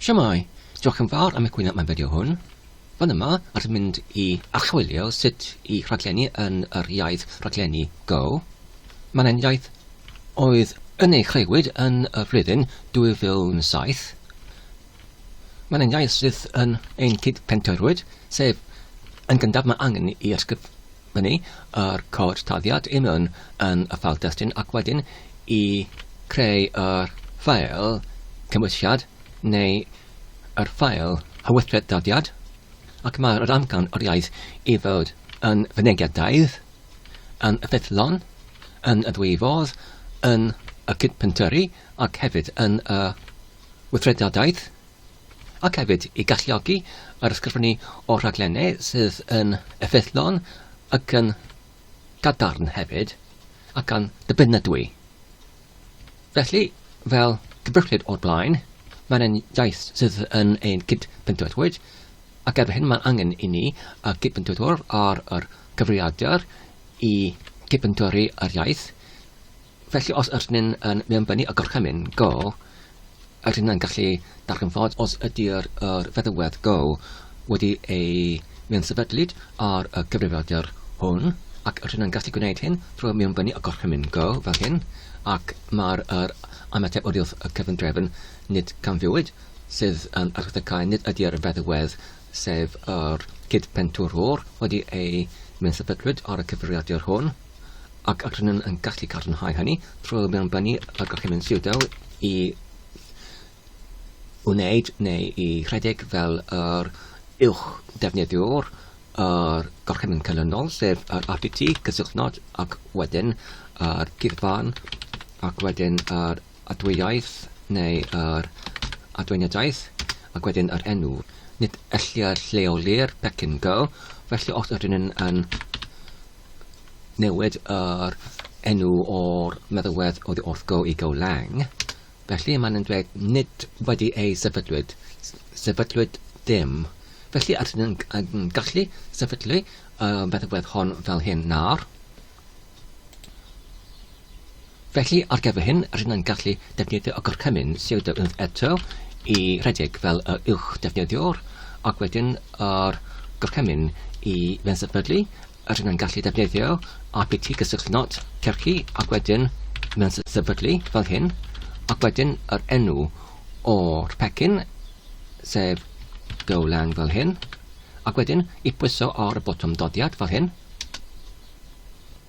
Shwmae! Diolch yn fawr am egwyno am y fideo hwn. Fan yma, rydym yn mynd i archwilio sut i rhaglennu yn yr iaith rhaglennu Go. Mae'n enghraifft oedd yn ei chreuwyd yn y flwyddyn 2007. Mae'n enghraifft sydd yn ein cyd-pentoerwyd, sef yn gyntaf mae angen i ysgrifennu hynny yr cod taliad union yn y ffeil destun ac wedyn i creu yr ffeil cymwysiad neu yr ffeil hywythred daliad ac mae yr amcan o'r iaith i fod yn fynegedaidd, yn ffyddlon, yn y ddwy fodd, yn y cydpentyrru ac hefyd yn y weithredadaeth. ac hefyd i galluogi yr ysgrifennu o raglenni sydd yn effeithlon ac yn gadarn hefyd, ac yn ddibynadwy. Felly, fel cyfreithlyd o'r blaen, mae'n ein iaith sydd yn ein cydbendithwyr, ac erbyn hyn mae'n angen i ni y cydbendithwyr ar yr cyfrifiadur i gydbendithori yr iaith, Felly os ydyn ni'n yn mewnbynnu y gorchymyn Go, ydyn ni'n gallu darganfod os ydy'r yr feddywedd Go wedi ei mewnsefydlyd ar y cyfrifiadur hwn, ac ydyn ni'n gallu gwneud hyn trwy mewnbynnu y gorchymyn Go fel hyn, ac mae'r yr ymateb oddi wrth y cyfundrefn nid camfiwyd sydd yn archdecae nid ydy'r feddywedd sef yr cyd-penturwr wedi ei mewnsefydlwyd ar y cyfrifiadur hwn. ac rydym yn gallu cadarnhau hynny trwy mewnbynnu y Gorchymyn Siwdao i wneud neu i rhedeg fel yr uwch ddefnyddiwr yr Gorchymyn Canlynol, sef yr RPT, cysylltnod ac wedyn yr gyfan ac wedyn yr adwyaeth neu yr adweiniadaeth ac wedyn yr enw. Nid ellir lleoli'r pecyn go, felly os ydyn yn newid yr enw o'r meddalwedd oddi wrth go i go lang. Felly maen nhw'n dweud nid wedi ei sefydlwyd, sefydlwyd dim. Felly ydyn nhw'n gallu sefydlu y meddalwedd hon fel hyn nawr. Felly, ar gyfer hyn, rydyn yn gallu defnyddio y gorchymyn siwrdo unwaith eto i redeg fel yr uwch defnyddiwr, ac wedyn yr gorchymyn i fensefydlu, rydyn yn gallu defnyddio rpt gysylltu not cyrchu ac wedyn fensefydlu fel hyn, ac wedyn yr enw o'r pecyn, sef Golang fel hyn, ac wedyn i pwyso ar y botwm doddiad fel hyn.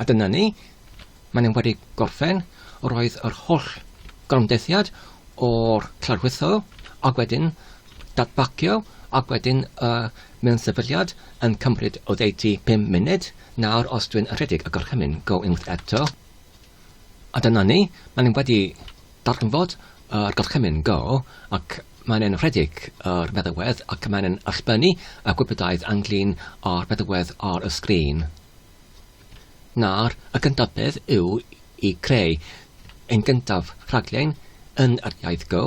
A dyna ni. Maen nhw wedi gorffen. Roedd yr holl gorymdeithiad o'r cladwytho ac wedyn datbacio ac wedyn y mewn sefydliad yn cymryd oddeutu pum munud. Nawr os dwi'n rhedeg y gorchymyn, go unwaith eto. A dyna ni. Maen nhw wedi darganfod y gorchymyn go ac Mae'n enwedig o'r meddalwedd ac mae'n yn allbynnu y gwybodaidd anglyn o'r meddalwedd ar y sgrin. Nawr, y gyntaf beth yw i creu ein gyntaf rhaglen yn yr iaith Go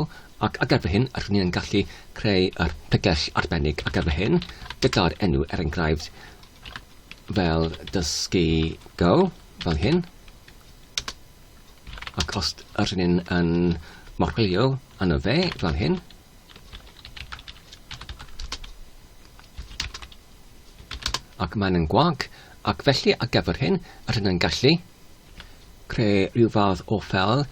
ac ar gyfer hyn rydyn ni yn gallu creu yr pregell arbennig ar gyfer hyn gyda'r enw er enghraifft fel dysgu Go fel hyn. ac os yr hyn yn morglio yno fe fel hyn, ac mae'n yn gwag, ac felly ar gyfer hyn, yr hyn yn gallu creu rhyw fath o ffel,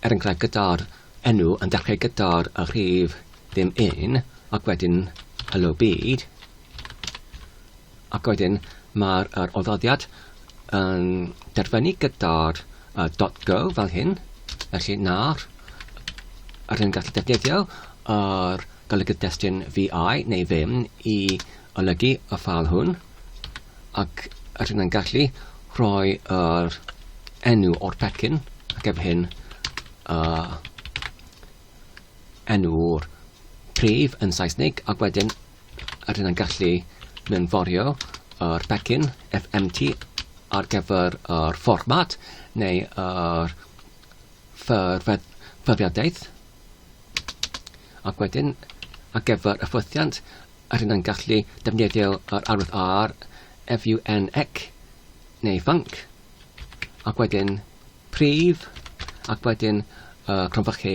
er enghraifft gyda'r enw yn dechrau gyda'r rhif ddim un, ac wedyn hello byd, Ac wedyn mae'r yr oddodiad yn derfynu gyda'r uh, dot go fel hyn, felly nawr yr hyn gallu defnyddio yr golygydd destun VI neu ddim i olygu y ffal hwn ac yr hyn yn gallu rhoi yr enw o'r pecyn ac efo hyn uh, enw'r prif yn Saesneg ac wedyn a dyna'n gallu mynd forio o'r becyn FMT ar gyfer o'r fformat neu o'r ffurfiadaeth ac wedyn ar gyfer y ffwythiant a dyna'n gallu defnyddio yr arwydd R, FUNC neu func ac wedyn prif ac wedyn uh, cronfychu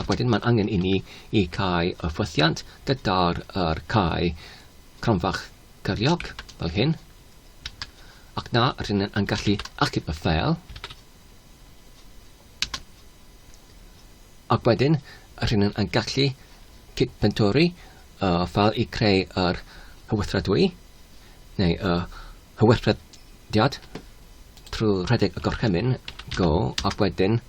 Ac wedyn mae'n angen i ni i cau y ffwythiant gyda'r er cau cronfach cyriog, fel hyn. Ac na, rydyn ni'n gallu achub y ffeil. Ac wedyn, rydyn ni'n gallu cyd-bentori y ffeil i creu yr hywythredwy, neu y hywythrediad, trwy rhedeg y gorchymyn go, ac wedyn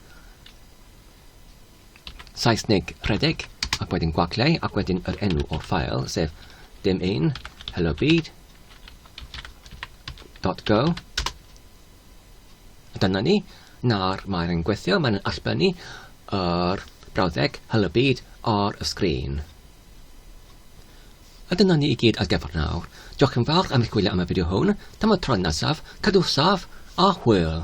Saesneg rhedeg, ac wedyn gwagliau, ac wedyn yr enw o'r ffael, sef dim un, hello byd, dot go. Dyna ni, na'r mae'r yn gweithio, mae'n allbynnu yr brawddeg hello byd ar y sgrin. A dyna ni i gyd ar gyfer nawr. Diolch yn fawr am eich gwylio am y fideo hwn. Tan y tro nesaf, cadw saf a hwyl!